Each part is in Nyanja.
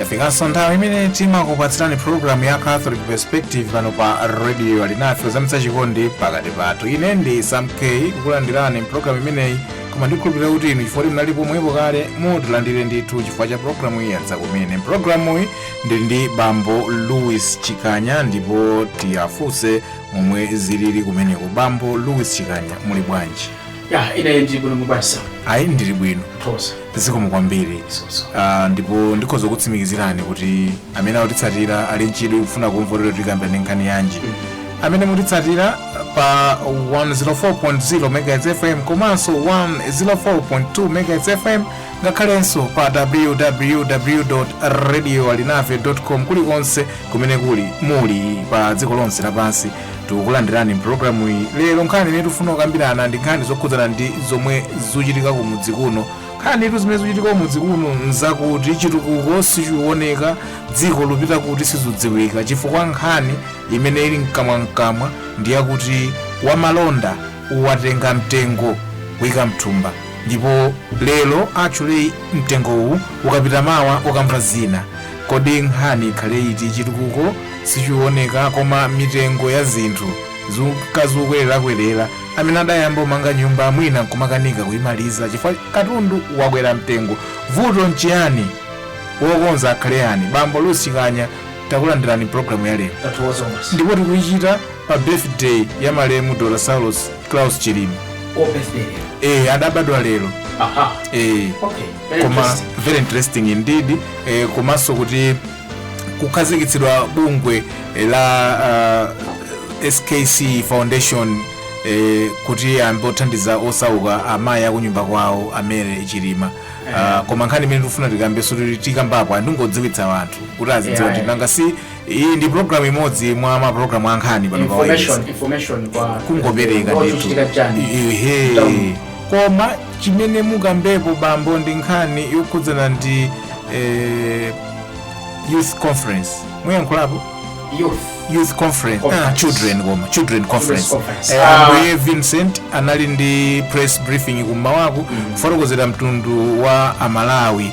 yafikanso nthawi imene timakupatsirani programu ya catholic perspective pano pa radio alinafe kuzamitsa chikondi pakati pathu ine ndi sam k kukulandirani mpulogalamu imeneyi koma ndikhulupirira kuti inu chifukwa kuti munali pomwepo kale mutilandire ndithu chifukwa cha pulogalamu iyi yadza kumene mpulogalamuyi ndili ndi bambo louis chikanya ndipo tiwafunse momwe zilili kumeneko bambo louis chikanya muli bwanji ya ine ndi bwino mubasa ayi ndili bwino thosa zikomo kwambiri soso Ah, ndipo ndikhoza kutsimikizirani kuti amene akutitsatira ali nchidwi kufuna kumva lero tikambirane nkhani yanji amene mutitsatira pa 104.0 megahertz fm komanso 104.2 megahertz fm ngakhalenso pa www radio alinafe com kulikonse kumene kuli muli pa dziko lonse lapansi tikukulandirani mpulogalamu iyi lero nkhani imene tifuna kukambirana ndi nkhani zokhudzana ndi zomwe zikuchitika kumudzi kuno nkhaniyitu zimene zikuchitika kumudzi kuno nzakuti chitukuko sichikuoneka dziko lupita kuti sizudziwika chifukwa nkhani imene ili mkamwamkamwa ndi yakuti wamalonda watenga mtengo kuyika mthumba Ndipo lero actually mtengowu ukapita mawa ukamva zina. Kodi nkhani ikhale iti chitukuko sichiwoneka koma mitengo ya zinthu zuka zukwererakwerera amene adayamba umanga nyumba mwina nkumakanika kuyimaliza chifukwa katundu wakwera mtengo vuto nchiyani wokonza akhale yani bambo louis chikanya takulandirani programu ya lero ndipo tikuyichita pa birthday ya malemu dr saulos klaus chilima Oh, birthday. eh, adabadwa lero Aha. eh, Okay. Very koma interesting. very interesting indeed eh, komanso kuti kukhazikitsidwa bungwe eh, la uh, skc foundation eh, kuti ambe othandiza osauka amayi akunyumba kwawo a mary chilima uh, koma nkhani imene tikufuna tikambe soti tikambapo ayi ndingodziwitsa anthu kuti azidziwa Yeah, kuti yeah. nanga si iyi ndi program imodzi mwa ma program a nkhani pano pa wailesi information information kwa kungopereka ndithu chitika chani Ehe. koma chimene mukambepo bambo ndi nkhani yokhudzana ndi eh, youth conference muyankhulapo youth youth conference ah, Conference. children koma children conference conference. Eh, Ah. ambuye vincent anali ndi press briefing kummawaku kufotokozera mtundu wa amalawi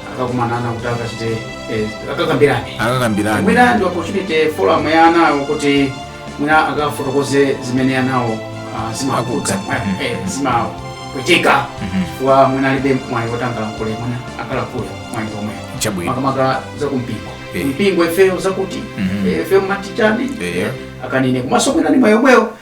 akakumana ana kuti akachite eh, akakambirane akakambirane mwina ndi opportunity forum ya anawo kuti mwina akafotokoze zimene anawo ah, zimawakhudza Akhudza. eh, zimapweteka wa mwina alibe mwayi kuti angalankhule mwina akalankhule mwayi omwe chabwino makamaka zakumpingo Eh. mpingo ifeyo zakuti Mhm. eh, ifeyo matichane Eh. akanene komanso mwina ni mwayi omwewo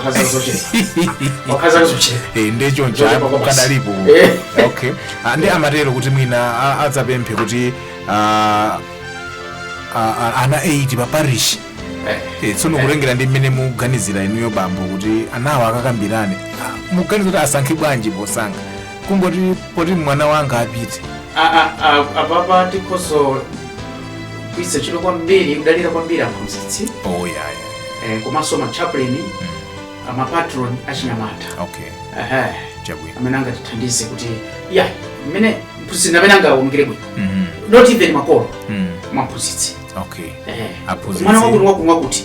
akhaza zocheza okhaza zocheza Eh, nde choncho Zochepa apo kwabasi. kadalipo Eh. okay Ah, nde amatero kuti mwina a- adzapemphe kuti ah, ah, ah, ana 8 pa parish Eh, Eh, tsono kutengera ndi mmene muganizira inuyo bambo kuti anawo akakambirane Ah, muganiza kuti asankhe bwanji posankha kungoti poti mwana wanga apite A- a- a- apapa tikhozanso kuika chidwi kwambiri kudalira kwambiri aphunzitsi oyaya eh, komanso machaplain amapatron achinyamata okay Aha. chabwino amene angatithandize kuti ya mmene mphunzitsi amene angaonekere bwino Mhm. not even makolo Mm. mwaphunzitsi okay Eh. Aphunzitsi. mwana wakuti wakuti wakuti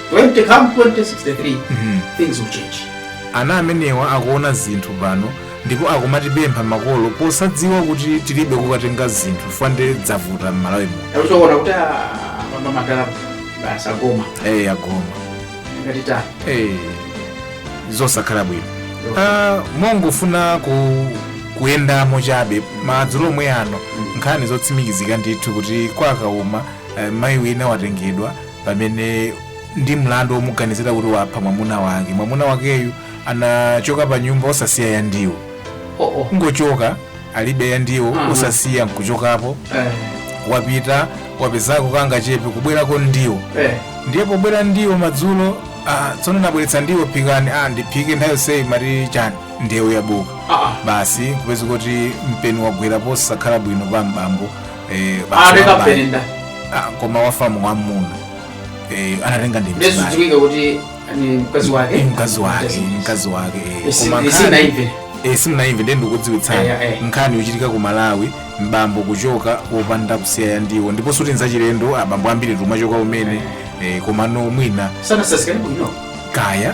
When they come 2063, Mhm. things will change. ana amenewa akuona zinthu pano ndipo akumatipempha makolo posadziwa kuti tilibe kukatenga zinthu fande dzavuta m'malawi muno Nawe ukuona kuti mama madala basi agoma eyi agoma ngati ta. eyi zosakhala bwino Ah, mongofuna ku kuyendamo chabe madzulo omwe ano nkhani zotsimikizika ndithu kuti kwakauma eh, mayi wina watengedwa pamene ndi mlandu womuganizira kuti wapha mwamuna wake mwamuna wakeyu anachoka pa nyumba osasiya ya ndiwo oh, oh. kungochoka alibe ya ndiwo Mhm. osasiya nkuchokapo Eh, wapita wapezako kangachepe kubwerako ndiwo eh. ndiye pobwera ndiwo madzulo ah, tsono nabweretsa ndiwo phikani ah, ndiphike nthawi yonseyi mumati chani ndewu yabuka Ah, ah. basi kupeza kuti mpeni wagwera posakhala bwino pa mbambo Eh, basi wabale. atekafere nda Ah, koma wafa mwamuna Eh, anatenga ndi mzimayi. nde sudziwike kuti ni mkazi wake Eh, mkazi wake Mkazi. mkazi wake eh. Isi- Koma isi nkhani- naive Eh, simunaimve nde ndikudziwitsani Eh, eh. nkhani yochitika ku malawi mbambo kuchoka wopanda kusiya ya ndiwo ndipo sikuti nzachilendo abambo ambiri tumachoka umene eh, komano mwina sanasasikanepo ino kaya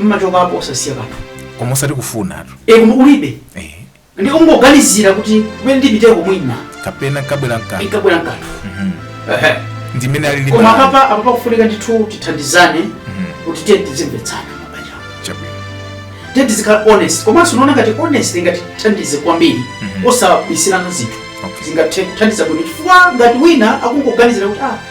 mmachokapo osasiya kanthu koma osati kufunatu e koma kulibe eh, nde kungoganizira kuti kumene ndipiteko mwina kapena nkabwera nkanthu nkabwera nkanthu Ehe. ndimene ali ndi koma bala. apapa apapa kufunika ndithu tithandizane Mhm, kuti tiye tizimvetsana mabanja chabwino tiye tizikhala honest komanso ndikuona ngati honest ingatithandize kwambiri Mhm. osabisirana zinthu Okay. zingathe kuthandiza bwino chifukwa ngati wina akungoganizira kuti ah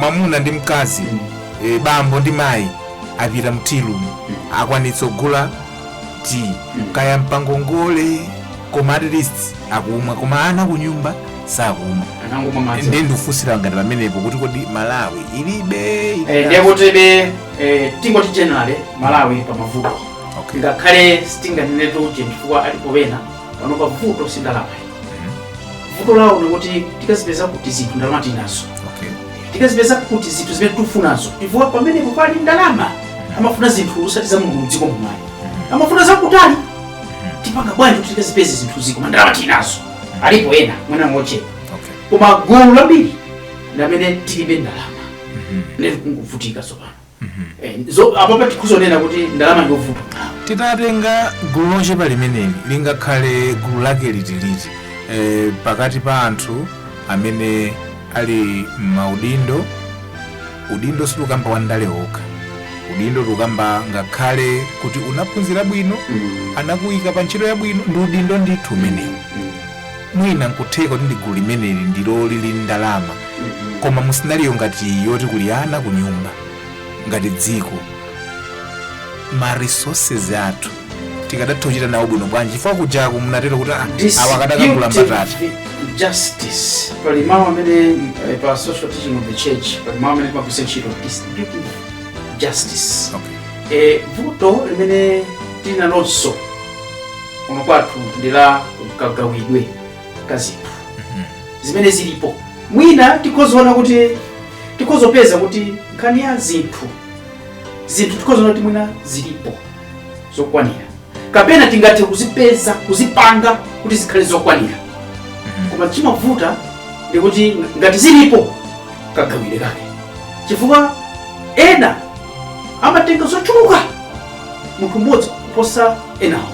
mwamuna ndi mkazi e, bambo ndi mayi apita m'tea room akwanitsa kugula tea kaya mpangongole koma at least akumwa koma ana kunyumba sakumwa anangomwa madzi ndiye ndikufunsira ngati pamenepo kuti kodi malawi ilibe Eh, ilibe- ndiye kuti be eh, tingoti generally malawi pa mavuto Okay. ngakhale sitinganenetu chifukwa alipo ena pano pa vuto si ndalama vuto lawo ndikuti tikazipeza kuti zinthu ndalama tinazo okay tikazipeza kuti zinthu zimene tikufunazo chifukwa pamenepo pali ndalama amafuna zinthu osati za mulungu mdziko muno amafuna zakutali tipanga bwanji kuti tikazipeze zinthuzi koma ndalama tinazo alipo ena mwina mochepa okay koma gulu lambiri ndi lamene tilibe ndalama ndeti kungovutika tsopano Eh, zo- apapa tikuzanena kuti ndalama ndiovuta titatenga gulu lochepa limeneli lingakhale gulu lake liti liti e, pakati pa anthu amene ali m'maudindo udindo sitikukamba wa ndale okha udindo tikukamba ngakhale kuti unaphunzira bwino anakuyika pa ntchito yabwino ndi udindo ndithu umenewu mwina nkutheka kuti ndi gulu limeneli ndilo lili ndi ndalama koma mu scenario ngati iyi yoti kuli ana ku nyumba ngati dziko ma resources athu tikadatha kuchita nawo bwino bwanji chifukwa kujaku munatero kuti awa akadakagula mbatata justice pali mawu amene eh, pa social teaching of the church pali mawu amene timagwiritsa ntchito distributive justice Okay. Eh, vuto limene tili nalonso kuno kwathu ndi la kagawidwe ka zinthu zimene zilipo mwina tikhozoona kuti tikhozopeza kuti nkhani ya zinthu zinthu tikhozoona kuti mwina zilipo zokwanira kapena tingathe kuzipeza kuzipanga kuti zikhale zokwanira koma chimavuta ndikuti ngati zilipo kagawidwe kake chifukwa ena amatenga zochuluka munthu mmodzi kuposa enawo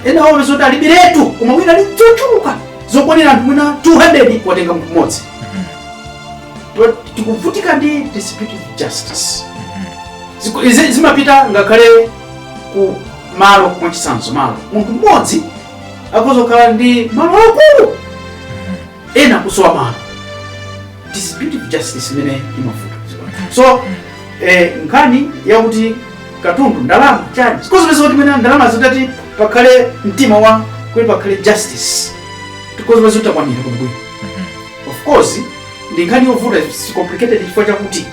enawo upeza oti alibiretu koma wina ali ndi zochuluka zokwanira anthu mwina 200 watenga munthu mmodzi To- tikuvutika ndi distributive justice Ziku- izi zimapita ngakhale ku malo mwachitsanzo malo munthu mmodzi akhoza kukhala ndi malo akulu ena kusowa malo distributive justice imene imavuta so eh, nkhani yakuti katundu ndalama chani tikhozopeza kuti mwina ndalama zitati pakhale mtima wa kuti pakhale justice tikhozopeza kuti takwanira kumbuyo of course ndi nkhani yovuta it's complicated chifukwa chakuti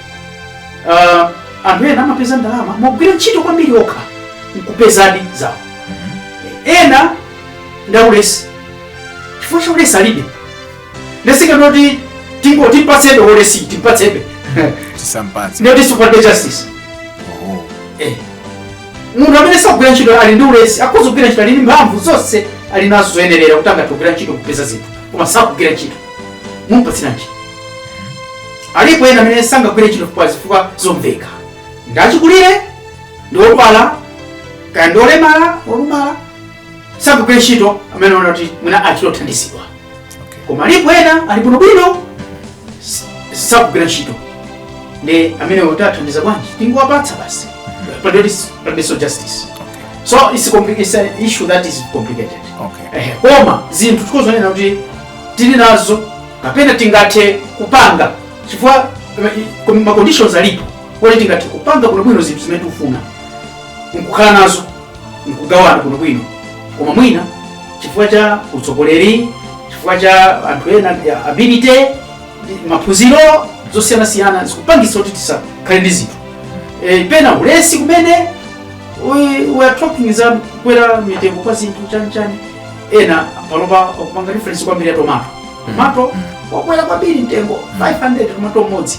uh, anthu ena amapeza ndalama mogwira ntchito kwambiri okha nkupezadi zawo ena ndaulesi chifukwa cha ulesi alibe ndiye tisanene kuti tingo timpatsebe ulesi timpatsebe tisampatse ndiyoti supportbe justice oho Eh. munthu amene sakugwira ntchito ali ndi ulesi akhoza kugwira ntchito ali ndi mphamvu zonse ali nazo zoyenerera kuti angathe kugwira ntchito kupeza zinthu koma sakugwira ntchito mumpatsira ntchito alipo ena amene sangagwire ntchito kwa zifukwa zomveka ndi achikulire ndi opuwala kaya ndi olemala olumala sangagwire ntchito amenewo kuti mwina achita kuthandizidwa koma alipo ena ali bwinobwino s- sagwira ntchito ndi amenewo tiwathandiza bwanji tingowapatsa basi but there is there is no justice so it's, a compli- it's an issue that is complicated Okay. Ehe, koma zinthu tikhoza kunena kuti tili nazo kapena tingathe kupanga chifukwa eh, ko- ma conditions alipo kuti tingathe kupanga bwinobwino zinthu zimene tikufuna nkukhala nazo nkugawana bwinobwino koma mwina chifukwa cha utsogoleri chifukwa cha anthu ena ndi ability ndi maphunziro zosiyanasiyana zikupangitsa kuti tisakhale ndi zinthu e, pena ulesi kumene we, we are talking za kukwera mitengo kwa zinthu chanichani ena panopa akupanga reference kwambiri ya tomato tomato wakwera kwambiri mtengo 500 tomato mmodzi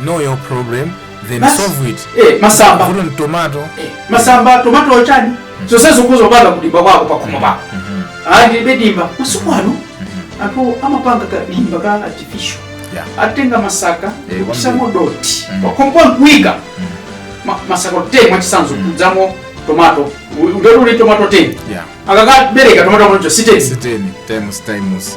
know your problem then Basi. solve it eh, masamba vuto ndi tomato eh, masamba tomato ochani zonse ungazidzale kudimba kwako pakhomo pako ulibe dimba masiku ano anthu amapanga kadimba ka artificial Yeah. atenga masaka Eh, kwambiri. kutsiramo dothi Mm. pakhompo nkuika Ma- masaka 10 mwachisanzo kudzalamo tomato ngati uli tomato 10 yeah akakabereka tomato mocho 10 times times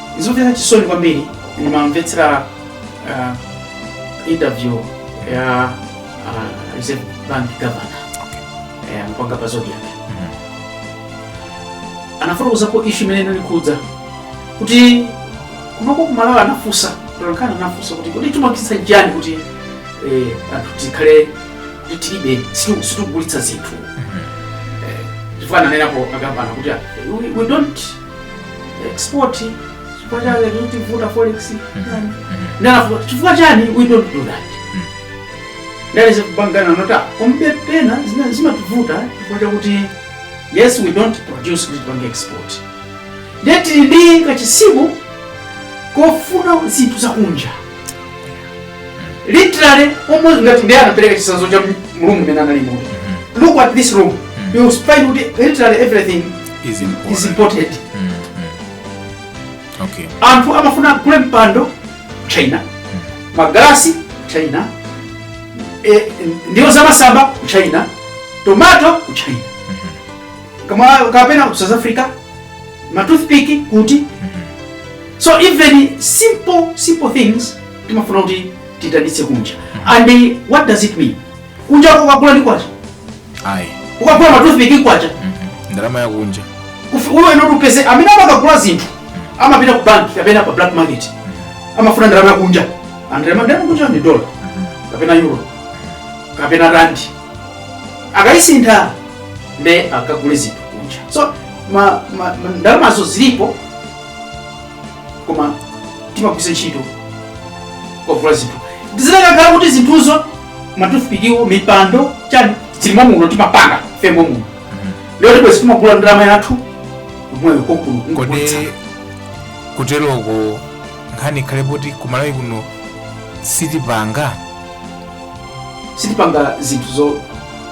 zomvetsa chisoni kwambiri ndimamvetsera ah, interview ya ah, reserve bank governor eh, mpanga pa zodiac anafotokozapo ishu imene inali kukhudza kuti kunoko kumalawi anafunsa mtolankhani anafunsa kuti kuti timagulitsa chani kuti eh, anthu tikhale kuti tilibe situ- sitikugulitsa zinthu Eh, chifukwa ananenapo a governor kuti ah, we, we don't export chifukwa chake chikutivuta forex chani ndalafu chifukwa chani we don't do that there is kupanga nanu komabe pena zina zimativuta chifukwa chakuti yes we don't produce kuti tipange export ndiye tili ndi kachisimo kofuna zinthu zakunja literally almost ngati ndiye anapereka chisanzo cha room imene analimo look at this room you will find kuti literally everything is imported is imported mm, mm. okay anthu amafuna agule mpando china magalasi ku china e, ndiwo zamasamba ku china tomato ku china kaya kapena ku south africa matoothpick kuti so even simple simple things timafuna kuti titanitse kunja and eh, what does it mean kunja uko ukagula ndi kwacha ayi ukagula matoothpick kwacha ndalama yakunja Ufi- ndiye upeza amene amakagula zinthu amapita ku bank kapena pa black market amafuna ndalama yakunja and ndalama ndalama yakunja ndi dollar kapena euro kapena rand akayisintha nde akagule zinthu kunja so ma, ma, ma, ndalamazo zilipo koma timagwiritsa ntchito kugula zinthu zikanakhala kuti zinthuzo matoothpickwo mipando chani zili muno timapanga ifeyo muno ndiye tibwezi timagula ndalama yathu yomweyo kokulu kodi ngobwitsa kuteroko nkhani ikhale poti kumalawi kuno sitipanga sitipanga zinthu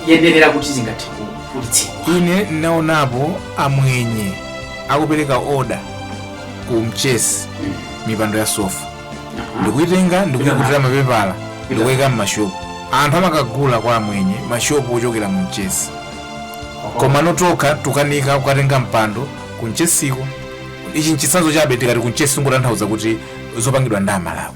zoyenerera kuti zingathe kugulitsidwa ine ndinaonapo amwenye akupereka oda ku mchesi mipando ya sofa ndikuitenga ndikuyikutira mapepala ndikuyika mmashopu anthu amakagula kwa amwenye mashopu ochokera mu mchesi koma inu nokha tukanika kukatenga mpando ku mchesiko ichi nchitsanzo chabe tikati ku mchesi ndikutanthauza kuti zopangidwa ndi amalawi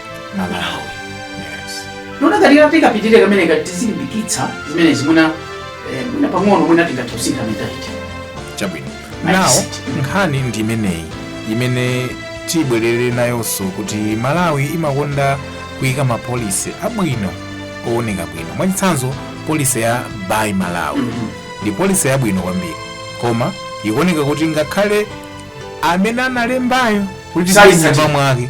malawi ndiona ngati titapitira kamene ngati tizilimbikitsa zimenezi mwina eh, mwina pang'ono mwina tingathe kusintha mentality chabwino Nice. now nkhani ndi imeneyi imene tibwerere nayonso kuti malawi imakonda kuyika mapolisi abwino owoneka bwino mwachitsanzo polisi ya buy malawi Mhm. ndi polisi yabwino kwambiri koma ikuoneka kuti ngakhale amene analembayo kuti sayitsatira. nyumba mwake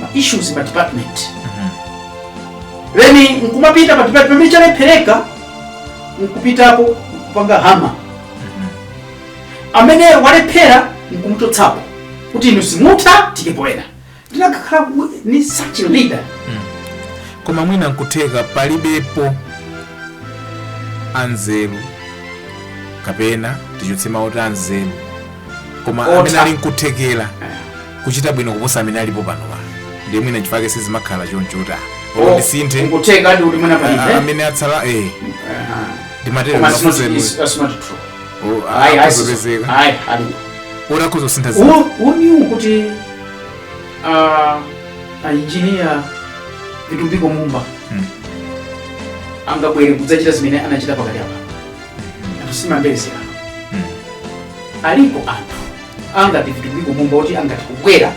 ma issues mma department then nkumapita pa department pamene chalephereka nkupitapo kupanga hama amene walephera nkumchotsapo kuti inu simutha tiikepo ena ndikanakhala ku- ni such a leader koma mwina nkutheka palibepo anzeru kapena tichotse mawu oti anzeru koma Otha. amene ali nkuthekera kuchita bwino kuposa amene alipo pano pa ndiye mwina chifake sizimakhala chonchota Oh, olo ndisinthe nkutheka adi kuti mwina a- palibe amene atsala eh Aha. ndimatero Koma sino- mafuso is- that's not true. Ayi, ayi, akuzopezeka ayi, ali. oti akuzosintha zinthu Who- who knew kuti ah, engineer Vitumbiko Mumba Mm. angabwere kudzachita zimene anachita pakati apa anthu simambezera Mm. alipo anthu angati Vitumbiko Mumba oti angathe kubwera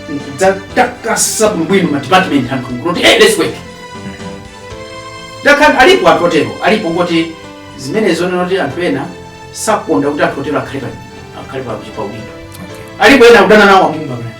nkudzatakasa bwinobwino ma department anthu kuti hey, let's work dakhan alipo anthu otero alipo kuti zimenezo nzoti anthu ena sakonda kuti anthu otero akhale pa akhale pa pa udindo alipo ena akudana nawo a Mumba mnati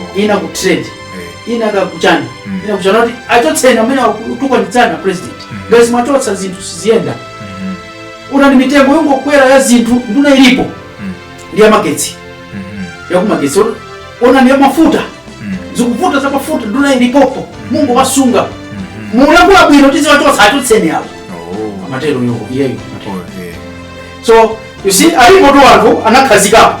Oh. ina ku trade Eh. ina ya kuchani Mm. ina kuchana kuti achotseni amene akutukwanitsana president Mm. ngati mwachotsa zinthu siziyenda Mhm. ona ndi mitengo yongokwera ya zinthu nduna ilipo Mm. ndi yamagetsi Mhm. yakumagetsi Ona- ona ndi yamafuta Mm. zikuvuta za mafuta nduna ilipopo mukuwasunga Mhm. mukulankhula bwino kuti muziwachotsa achotseni apo Oh. amatero yo iyeyo Oh, eh. so you see alipotu anthu anakhazikapo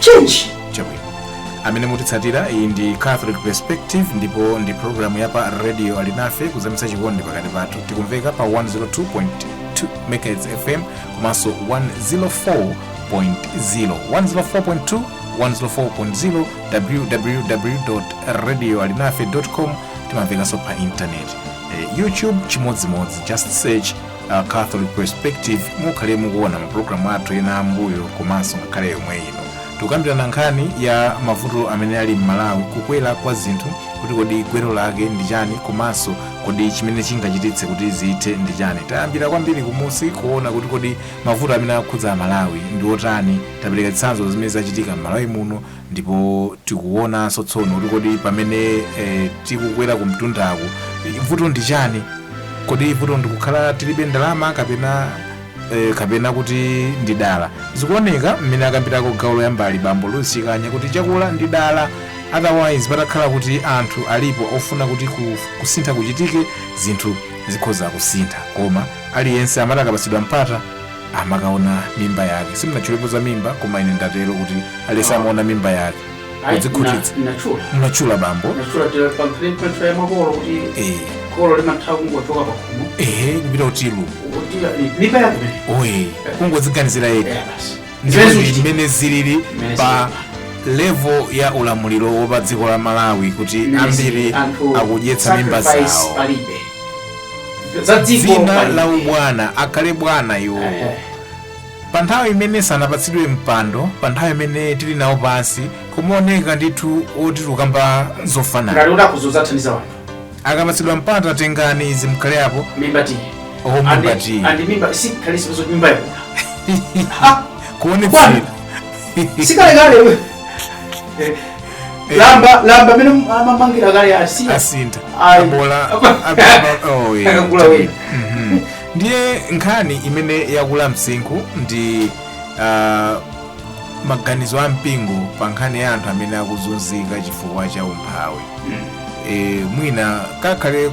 change chabwino amene mukutsatira iyi ndi catholic perspective ndipo ndi programu ya pa radio alinafe kuzamitsa chikondi pakati pathu tikumveka pa 102.2 megahertz fm komanso 104.0 104.2 104.0 www radio alinafe com timamvekanso pa intaneti eh, youtube chimodzimodzi just search a Catholic Perspective mukhale mukuona mapulogalamu athu ena ambuyo komanso ngakhale yomwe ino tikukambirana nkhani ya mavuto amene ali m'Malawi kukwera kwa zinthu kuti kodi gwero lake ndi chani komanso kodi chimene chingachititse kuti zithe ndi chani tayambira kwambiri kumunsi kuona kuti kodi mavuto amene akhudza aMalawi ndi otani tapereka zitsanzo zimene zachitika m'Malawi muno ndipo tikuonanso tsono kuti kodi pamene eh, tikukwera kumtundaku eh, vuto ndi chani kodi vuto ndikukhala tilibe ndalama kapena eh, kapena kuti ndi dala zikuoneka mmene akambirako gawo loyambali bambo lusikanya kuti chakula ndi dala otherwise patakhala kuti anthu alipo ofuna kuti ku- kusintha kuchitike zinthu zikhoza kusintha koma aliyense amati akapatsidwa mpata amakaona mimba yake simunatchulepo za mimba koma ine ndatero kuti aliyense amaona mimba yake Ayi, kudzikhutitsa na- nachula munatchula bambo nachula tira pamfepa ya makolo kuti Eh, kholo limatha kungochoka pakhomo ehe kupita utilu kuti mimba yake imene oye kungoziganizira yekha Eh, basi Zimenezo ndimene chiti- zimene zilili Zimene pa level ya ulamuliro wa pa dziko la Malawi kuti Zimene ambiri zili anthu akudyetsa mimba sacrifice zawo palibe za dziko dzina pali- la ubwana akhale bwana iwo Ehe. pa nthawi imene sanapatsidwe mpando pa nthawi imene tili nawo pansi kumaoneka ndithu kuti tikukamba ngati zofanana kuti akuzunza athandiza anthu akapatsidwa mpando atengani izi mukhale apo mimba tiye Oh, mimba tiye. andi mimba sikhalisizo mimba yakula kuonetsa Bwana. sikale kale we lamba lamba mmene amamangira kale asiya asinta Ayi. abola akakula wina ndiye nkhani imene yakula msinkhu ndi ah, maganizo a mpingo pa nkhani ya anthu amene akuzunzika chifukwa cha umphawi e, mwina kakhale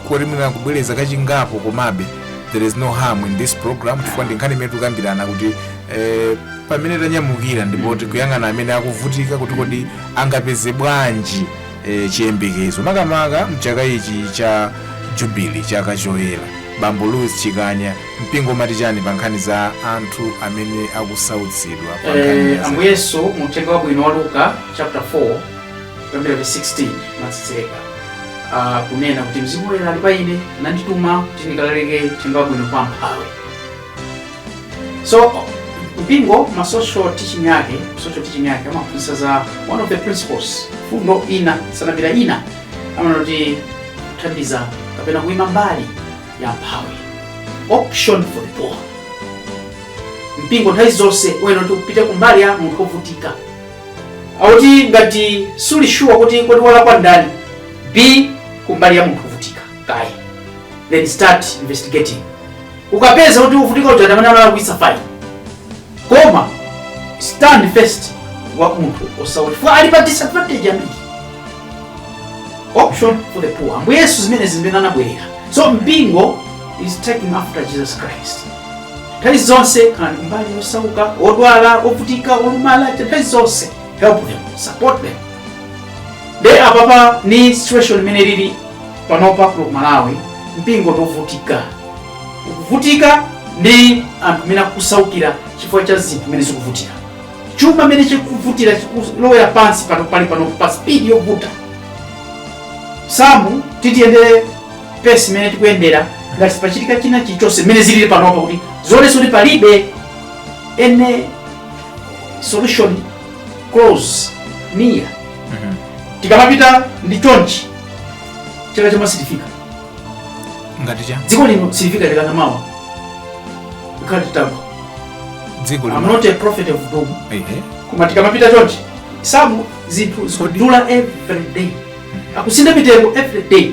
koti mwina kubwereza kachingapo komabe there is no harm in this program chifukwa ndi nkhani imene tikukambirana kuti Eh, pamene tanyamukira ndipo tikuyang'ana amene akuvutika kuti kodi angapeze bwanji eh, chiyembekezo makamaka m'chaka ichi cha jubilee chaka choyera bambo louis chikanya mpingo umati chani pa nkhani za anthu amene akusautsidwa pa nkhani Eh, ya ambuye yesu mu uthenga wabwino wa luka chapter 4 kuyambira verse 16 mpaka 18 Ah, kunena kuti mzimu woyera ali pa ine wandituma kuti ndikalalike uthenga wabwino kwa amphawi so mpingo ma social teaching yake social teaching yake amaphunzitsa za one of the principles mfundo ina principle ina amanena kuti kuthandiza kapena kuima mbali ya amphawi option for the poor mpingo nthawi zonse uyenera kuti upite kumbali ya munthu wovutika akuti ngati suli sure kuti kodi walakwa ndani be kumbali ya munthu wovutika kaye then start investigating ukapeza kuti wovutika uja ndamene analakwitsa fine koma stand first kwa munthu wosauka chifukwa ali pa disadvantage kwambiri option for the poor ambuye yesu ndi zimene zimene anabwerera so mpingo is taking after jesus christ nthawi zonse khalani kumbali ya osauka odwala ovutika olumala nthawi zonse help them support them nde apapa ndi situation imene ili panopa ku malawi mpingo ndiovutika ukuvutika ndi anthu amene akusaukira chifukwa cha zinthu zimene zikuvutika chuma mmene chikuvutira chikulowera pansi pano pali pano pa spidi yovuta samu tikayendera pace imene tikuyendera ngati sipachitika china chilichonse mmene zilili panopa kuti zionetsa kuti palibe any solution close near tikamapita ndi chonchi chaka chamawa sitifika ngati cha dziko lino silifika chaka chamawa tikhala titagwa dziko I'm lino not a prophet of doom ehe koma tikamapita chonchi samu zinthu zikudula every day akusintha mitengo every day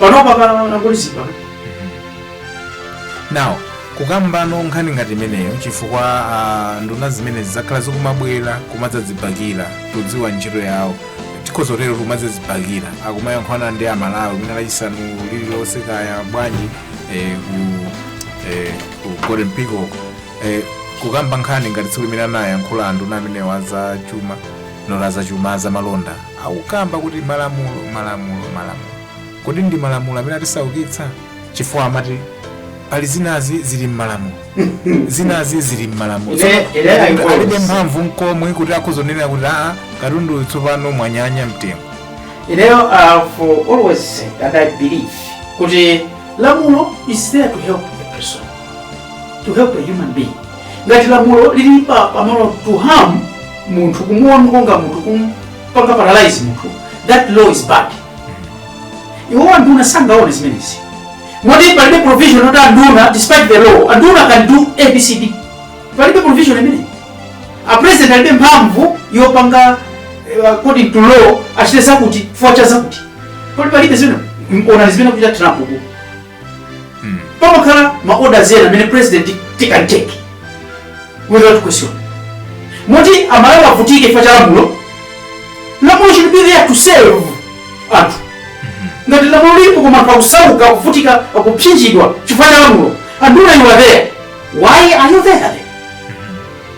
panopa anangolizidwa now kukambano nkhani ngati imeneyo chifukwa ah, nduna zimenezi zakhala zikumabwera kumadzazibakira osadziwa ntchito yawo tikhoza kutero kumadzazibakira akumayankhulana ndi amalawi mwina lachisanu lililonse kaya bwanji eh, ku eh, ku golden peacock eh, kukamba nkhani ngati tsiku limene anayankhula nduna amenewa za chuma not za chuma za malonda Akukamba kuti malamulo, malamulo, malamulo. Kodi ndi malamulo amene atisaukitsa? Chifukwa amati pali zinazake zili mmalamulo. Zinazake zili mmalamulo. Ine- Tsopano, ine I alibe quote. mphamvu nkomwe kuti akhoza kunena kuti aa katundu uyu tsopano mwanyanya mtengo. Ineyo I've always said and I believe kuti lamulo is there to help the person, to help the human being. ngati lamulo lili pa pamalo to harm munthu kumuononga munthu kumpanga paralyze munthu that law is bad iwo anduna sangaone zimenezi moti palibe provision yoti anduna despite the law anduna can do abcd palibe provision imeneyi a president alibe mphamvu yopanga eh, according to law achite zakuti chifukwa cha zakuti kodi palibe zimene onani zimene akuchita trump ku pamakhala ma orders ena amene president can take without question moti amalawi avutike chifukwa cha lamulo lamulo should be there to serve anthu ngati lamulo lilipo koma anthu akusauka akuvutika akupsinjidwa chifukwa cha lamulo anduna you are there why are you there then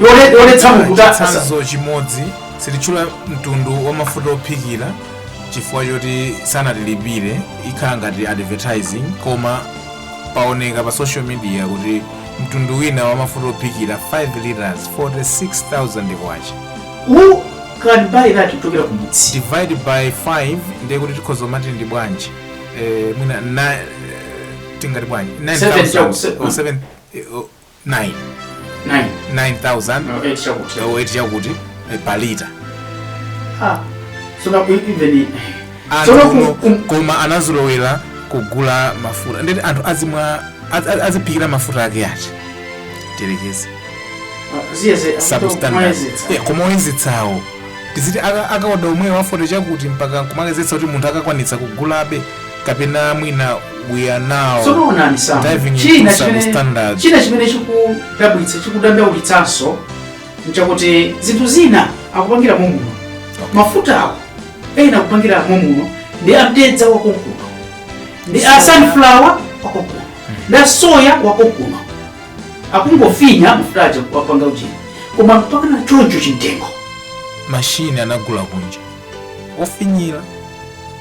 Yone- yonetsa munthu kuti asasa chitsanzo chimodzi sititchula mtundu wa mafuta ophikira chifukwa choti sanatilipire ikhala ngati advertising koma paoneka pa social media kuti mtundu wina wa mafuta ophikira 5 liters 46000 kwacha who can buy that kuchokera kumudzi divide by 5 ndiye kuti tikhoza kumati ndi bwanji eh, mwina na- eh, tingati bwanji Seven 9000 chau- se- or seven- eh, oh, 9 9 9000 no 8 chakuti eh, weight yakuti eh, per liter ah sona ku even anthu Tsono ku- uno ku- koma anazolowera kugula mafuta ndiye kuti anthu azimwa az- az- aziphikira mafuta ake achi terekeze ziyeze substandard Yeah, koma oyezitsawo tiziti aka- akaoda omwewo a forty chakuti mpaka nkumayezetsa kuti munthu akakwanitsa kugulabe kapena mwina we are now tsono onani samu diving into china some chimene standards. china chimene chikudabwitsa chikudandaulitsanso nchakuti zinthu zina akupangira mommuno mafuta awo ena akupangira mommuno ndi mtedza wakonkuno ndi a Soya. sunflower wakonkuno ndi a soya wakonkuno akungofinya mafuta aja wapanga ujeni koma mpakana choncho chimtengo mashini anagula kunja ofinyira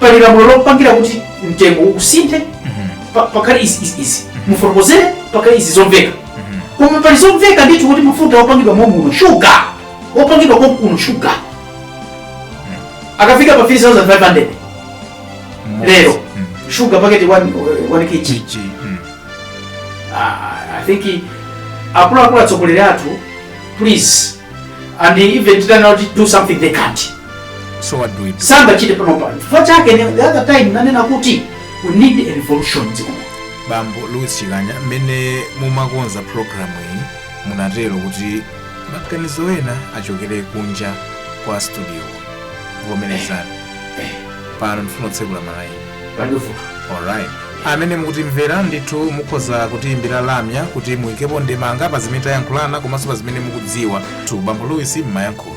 pali lamulo lopangira kuti mtengo usinthe mhm. pa- pakhale izi izi izi mufotokozere pali zomveka mhm. koma pali zomveka ndithu kuti mafuta opangidwa momuno shuga opangidwa konkuno shuga mhm. akafika pa 3500 lero shuga paketi 1 kg ah, i think akuluakulu atsogoleri athu please and even kuitana kuti do something they can't So what do we do? sangachite panopa chifukwa chake ne- the other time nanena kuti we need a revolution dziko muno. bambo louis chikanya mmene mumakonza programu iyi munatero kuti maganizo ena achokere kunja kwa studio vomerezani pano ndifuna kutsekula malaini Wonderful. alright amene mukutimvera ndithu mukhoza kutiyimbira lamya kuti muyikepo ndemanga pa zimene tayankhulana komanso pa zimene mukudziwa tu bambo louis mmayankhula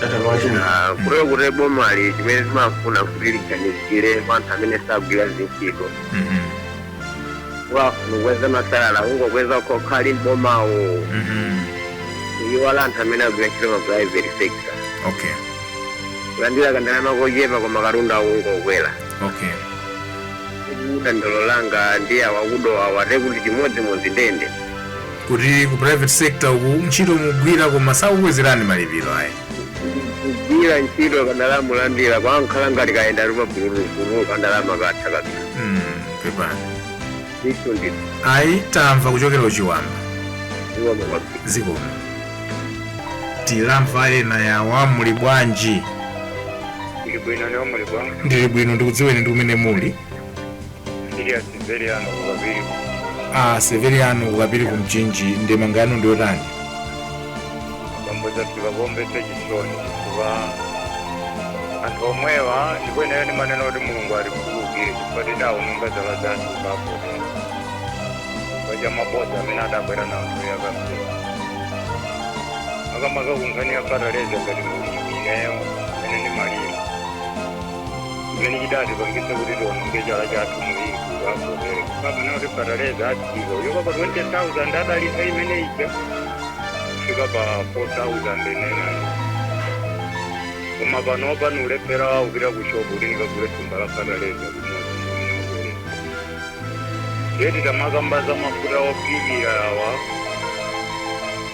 Ah, kuteroko kuti bomali chimene timafuna kuti liganizire kwa anthu amene sagwira zintchito Mhm. wafuna ukweza masalala ungokweza okhaokha ali mbomawo Mhm. iwala anthu amene agwira ntchito ma private sector okay kulandira kandalama kochepa koma katundu akungokwera okay dandaulo langa ndi a wa ku Dowa wati kuti chimodzimodzi ndendende kuti ku private sector uku ntchito mugwira koma sakukwezerani malipiro ayi kugwira ntchito kandalama ulandira kumakhala ngati kayenda ali pabululubulu kandalama katha kabisa Mm, pepani ndithu ndithu ayi tamva kuchokera ku Chiwamba iwo mukwabisa zikomo timve ena awa muli bwanji ndili bwino inu muli bwanji ndili bwino ndikudziweni ndi kumene muli Ndine Severiano Ukapiri. a severiano ukapiri ku mchinji ndemanga yanu ndi yotani Bambo zafika pomvetsa chisoni kuba anthu omwewa ndipo ineyo ndimanena kuti mulungu atikhululukire chifukwa tidaononga zala zathu zapote chifukwa cha mabodza amene adabwera nawo anthu ya kampeni makamaka kunkhani ya fataleza ngati mulimi ineyo amene ndimalima zimene chidatipangitsa kuti tiononge chala chathu mulingo woterewu kumanena kuti fataleza adzachoka pa 20000 adalisa imene ija kufika pa 4900 koma panopa ndikulephera kupita ku shopu kuti nikagule thumba la fataleza limodzi yeti tamakambe za mafuta ophikira awa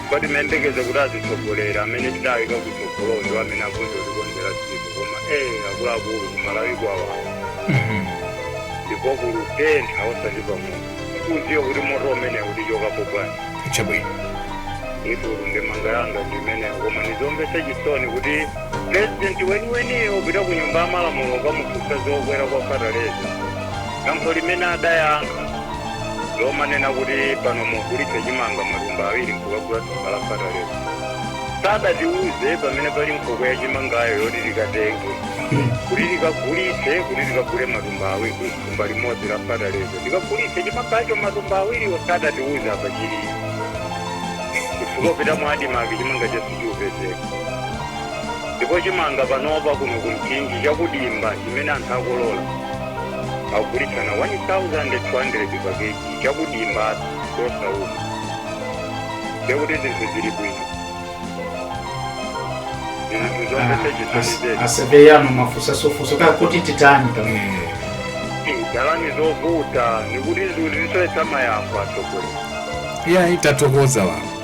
Ndipo timayembekeza kuti azitsogoleri amene tidawika kutsogolo ndi amene akutikonzera dziko koma eh akuluakulu kuMalawi kwawawa ndipo kulutentha osati pamwe kudziwa kuti moto umene utichokapo bwanji chabwino ine ndemanga yanga ndi imeneyo koma ndizomvetsa chisoni kuti purezidenti weniweniyo kupita ku nyumba ya malamulo ukamufunsa zokwera kwa fataleza Yankho limene adayankha lomanena kuti pano mugulitse chimanga matumba awiri nkukagula thumba la fataleza sadatiuze pamene pali nkhokwe ya chimangayo yoti tikatenge kuti tikagulitse kuti tikagule matumba awiri thumba limodzi la fataleza tikagulitse chimangacho matumba awiriwo sadatiuze apa chili chifukwa kupita mwa ADMARC chimanga sichikupezeka ndipo chimanga panopa kuno ku Mchinji chakudimba chimene anthu akolola akugulitsana 1200 pa kg chakudimba chosauma ndekuti zinthu zili bwino zinthu zonse chisonizeti a Severiano mwafunsa zofunso kaya kuti titani pamene ndalama zovuta nikuti zinthu zisoyetsa mayamba atsogoleri iyayi tathokoza wanu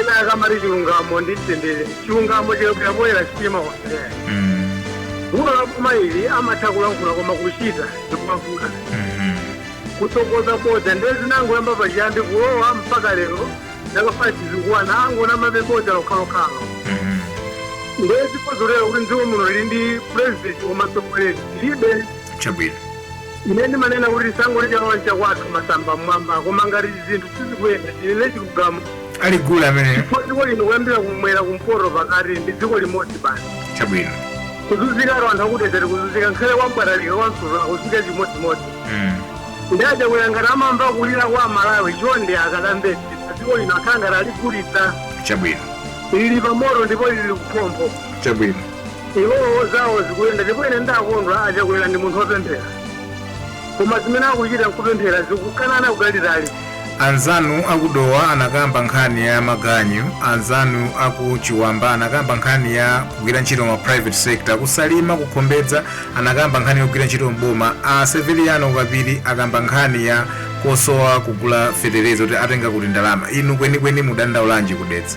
ena akamati chilungamo ndi mtendere chilungamo chikabwera poyera sichimawasera vuto la boma ili amatha kulankhula koma kuchita zikumavuta kutsogoza bodza ndiye zinangoyamba pachiyambi kulowa mpaka lero mpaka pano akungonamabe bodza lokhalokhalo ndiye zikuonetsera kuti mdziko muno lili ndi purezidenti komanso mtsogoleri lilibe chabwino Ine ndimanena kuti tisangoti chalowa nchakwathu masamba mmwamba koma ngati zinthu sizikuyenda tinene chilungamo ali gule ameneyo. chifukwa dziko lino kuyambira kumwera kumpoto pakati ndi dziko limodzi basi Chabwino. kuzunzikaku anthu akudzera kuzunzika nkhale kwa Mbwatalika kwa Nsulu kuzunzika chimodzimodzi Mm. ndiye kuti ngati amamva kulira kwa aMalawi chonde akatembenuze dziko lino akhala ngati aligulitsa Chabwino. lili pamoto ndipo lili kuphompho Chabwino. Iwowo zawo zikuyenda ndipo ine ndakondwa a Chakwera ndi munthu wopemphera koma zimene akuchita nkupemphera zikukanana kutalitali. Anzanu aku Dowa anakamba nkhani ya maganyu, anzanu aku Chiwamba anakamba nkhani ya kugwira ntchito ma private sector, ku Salima, ku Khombedza anakamba nkhani yogwira ntchito m'boma, a Severiano Kapiri akamba nkhani ya kusowa kugula fetereza kuti atenga kuti ndalama. Inu kwenikweni mudandaulanji ku Dedza?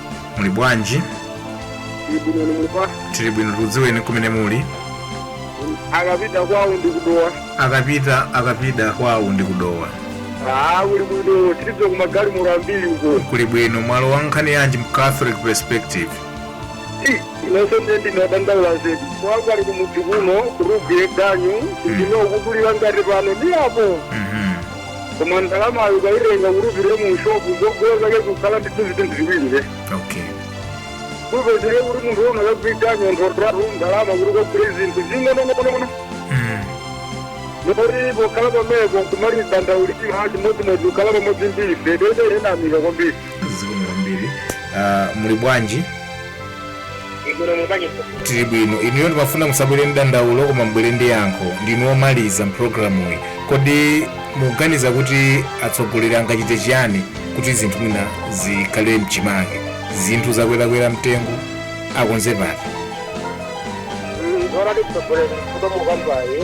muli bwanji ibinoni mulipa tili bwino tikudziweni kumene muli a Kapida kwawo ndi ku Dowa a Kapida a Kapida kwawo ndi ku Dowa aa kuli bwino tidziwe kuMagalimoto ambiri uko kuli bwino mwalowa nkhani yanji mu catholic perspective inenso ndiye ndadandaula zedi kwangu ali kumudzi kuno kutogwira ganyu ndinokutulira ngati pano ndi apo Mhm. koma ndalamayo ukaitenga kuti upite mu shopu zogula zake zikukhala ndithu zinthu ziwiri ze okay kupezeke kuti munthu umakagwira ntchito ndalama kuti ukagule zinthu zing'onozing'ono mm. moti pokhala pameko nkumadandaulira chimodzimodzi pokhala pamodzi ndi ife tayamika kwambiri zikomo kwambiri uh, muli bwanji bwino muli bwanji mfumu tili bwino inuyo ndimafuna musabwere ndi dandaulo koma mubwere ndi yankho ndinu omaliza mpulogalamuyi kodi mukuganiza kuti atsogoleri angachite chiyani kuti zinthu mwina zikhale mchimake zinthu zakwerakwera mtengo akonze pati zona ndikutsogolera komwe mukambayi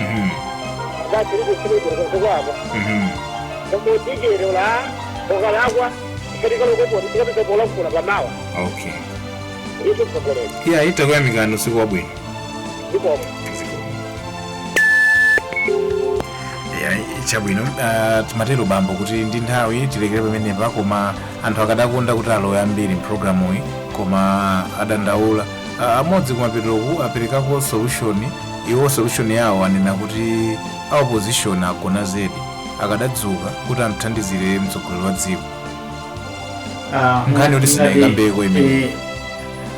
Mhm. zachiri kuchimidwa kuzikwako Mhm. komodijero la okalakwa ikatikalokoponi tikapita polankhula pamawa okay icho mtsogoleri iyayi takuyamikani usiku wabwino zikomo Ya, chabwino Ah, titero bambo kuti ndi nthawi tilekere pamenepa koma anthu akadakonda kuti alowe ambiri mpulogalamuyi koma adandaula Ah, amodzi kumapeteroku aperekako solution Iwo solution yawo anena kuti a opposition agona zedi akadadzuka kuti amthandizire mtsogoleri wa dziko Ah, Nkhani yoti sindinaikambeko imene. eh,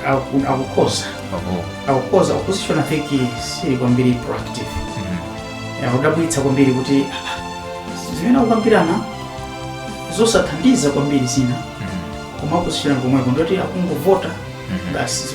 aku- akukhoza Oho. akukhoza opposition I think siili kwambiri proactive Mhm. akudabwitsa kwambiri kuti ah, zimene akukambirana zosathandiza kwambiri zina Mhm. koma opposition pomwepo ndi oti akungovota Mhm. basi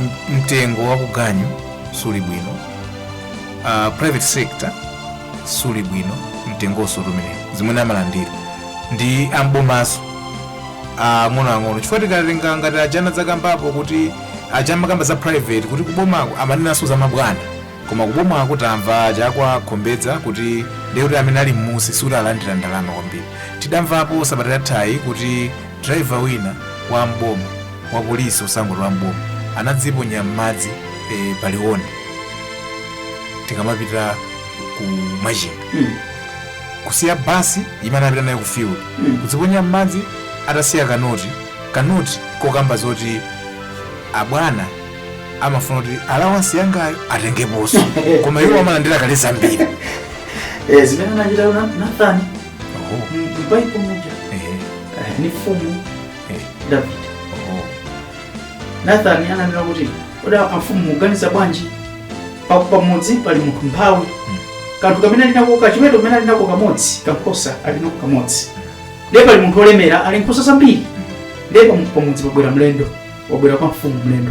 M- mtengo wa kuganyu suli bwino uh, private sector sili bwino mtengonso timeneto zimene amalandira ndi am'bomanso ang'onoang'ono chifukwa tikatenga ngati a Chakwera adakambapo kuti aja amakamba za private kuti kubomako amanenanso za mabwana koma kubomako tamva aja akukhomedza kuti ndiye kuti amene ali mmusi sikuti alandira ndalama kwambiri tidamvapo sabata yathayi kuti Driver wina wa m'boma wa police osangoti wa m'boma anadziponya m'madzi eh, pa Liwonde tikamapita ku Machinga Mm. kusiya basi imene anapita nayo ku field Mm. kudziponya m'madzi atasiya kanoti kanoti kokamba zoti abwana amafuna kuti alawansi yangayo atengeponso koma iwo amalandira kale zambiri Eh, zimene anachita Nathan M'baibulo muja ndi mfumu David. Nathan ananena kuti kodi amfumu muganiza bwanji Pa- pamudzi pali munthu mphawi kanthu kamene ali nako kachiweto kamene ali nako kamodzi kankhosa ali nako kamodzi ndiye pali munthu olemera ali ndi nkhosa zambiri ndiye pam- pamudzi pabwera mlendo wabwera kwa mfumu mlendo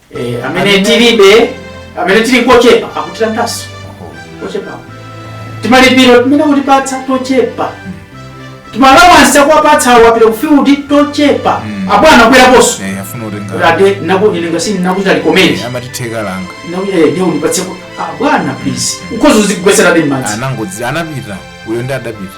Eh, amene tilibe amene tili kochepa akutilandanso kochepa timalipiro timene akutipatsa tochepa timalawansi akuwapatsa akapita kufiudi tochepa Mm. abwana akubweraponso Eh, afuna kuti kutenga ade nakuilinga sini nakuchita likomenti amatitheka langa nakuyaede unipatse abwana please ukhoza kuzigwetsera m'madzi anangodzi anapita uyo ndi adapita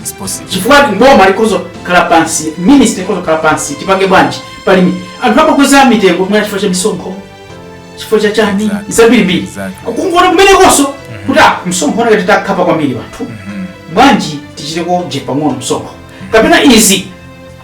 It's possible. chifukwa boma likhoza kukhala pansi ministry ikhoza kukhala pansi tipange bwanji pali mi- anthu amakweza mitengo kumene chifukwa cha misonkho chifukwa cha chani Exactly. zambirimbiri Exactly. kungoona kumenekonso kuti ah, msonkho unakati tikukhapa kwambiri wanthu bwanji tichitekoje pang'ono msonkho kapena izi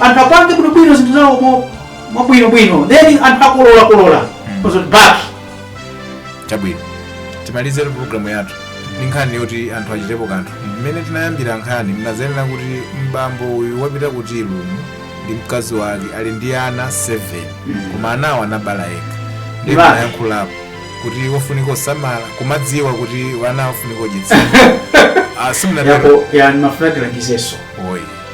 anthu apange bwinobwino zinthu zawo mo- mwabwinobwino then anthu akolola kolola ozoti back chabwino timalizere programu yathu ndi nkhani yoti anthu achitepo kanthu mmene tinayambira nkhani munanenera kuti bambo uyu wapita ku Chilumu ndi mkazi wake ali ndi ana 7 koma anawo anabala yekha ndipo munayankhulapo kuti wofunika kuwasamala kumadziwa kuti wana wofunika kuwadyetsa Ah, simunatero yapo yani mafuna tilangizenso oyi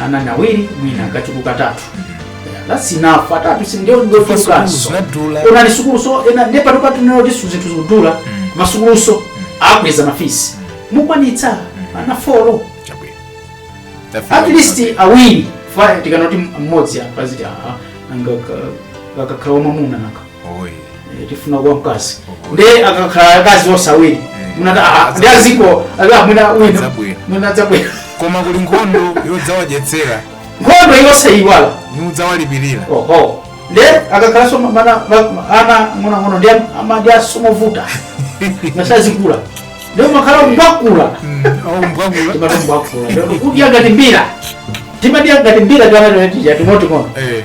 ana ni awiri mwina akachuluka atatu Yeah, that's enough atatu sindiye ndofunikanso zinadula onani masukulunso ena ndiye pano patinero kuti su- zinthu zikudula masukulunso akweza mafisi mukwanitsa ana folo chabwino at least awiri fa tikanati mmodzi apa ziti aa anga ka- kakakhala wamwamuna naka tifuna ka mkazi nde akakhala akazi onse awiri munati "Ah, ndi aziko ala mwina wina adzabwera. mwina adzabwera koma kuli nkhondo yodzawadyetsera nkhondo yosaiwala kudzawalipirira oho nde akakhalanso ma- mana va- ma- ana ng'onang'ono ndi am- ama- ndi amavuta zisanakule nde umakhala umbakula aumbwakula timati umbakula kudya ngati mbira timadya ngati mbira tiana tija ting'onoting'ono Eh.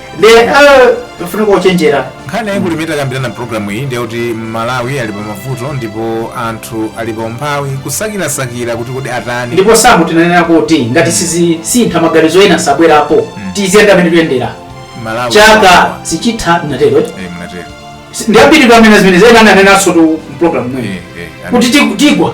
Ndiye eh, pafunika kuchenjera. nkhani yayikulu imene takambirana mpulogalamu iyi ndi yakuti Malawi ali pa mavuto ndipo anthu ali pa umphawi kusakirasakira kuti kodi atani ndipo Samu munanena kuti ngati sasintha maganizo ena sabwerapo tiziyenda mmene tikuyendera Malawi chaka sichitha munatero Eh, munatero Si- ndi ambiri pamene zimene zena ananenansotu mpulogalamu mwini Eh, eh, kuti tiku- tigwa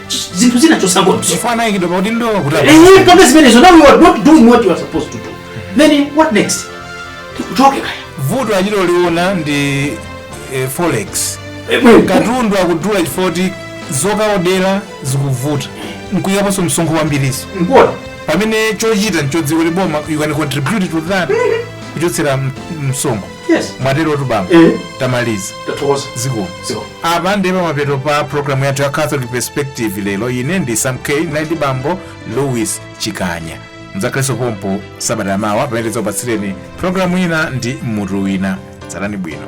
Ch- zinthu zina chosangozo chifukwa anayikidwa pakuti ndo kuti Eh, pamene zimenezo now you are not doing what you are supposed to do then what next tikuchotse kaya vuto achita kuliona ndi eh, forex Eh, bwe, katundu akudula chifukwa choti zokaodera zikuvuta nkuyikaponso msonkho wambirinso mbona pamene chochita nchodziwa kuti boma you can contribute to that kuchotsera m- msonkho Yes. mwaterotu bambo Eh. tamaliza Tathokoza. zikomo Zikomo. apa ndiye pamapeto pa programu yathu ya catholic perspective lero ine ndi sam k naye ndi bambo louis chikanya mzakhalenso pompo sabata yamawa pamene tidzakupatsireni programu ina ndi mutu wina tsalani bwino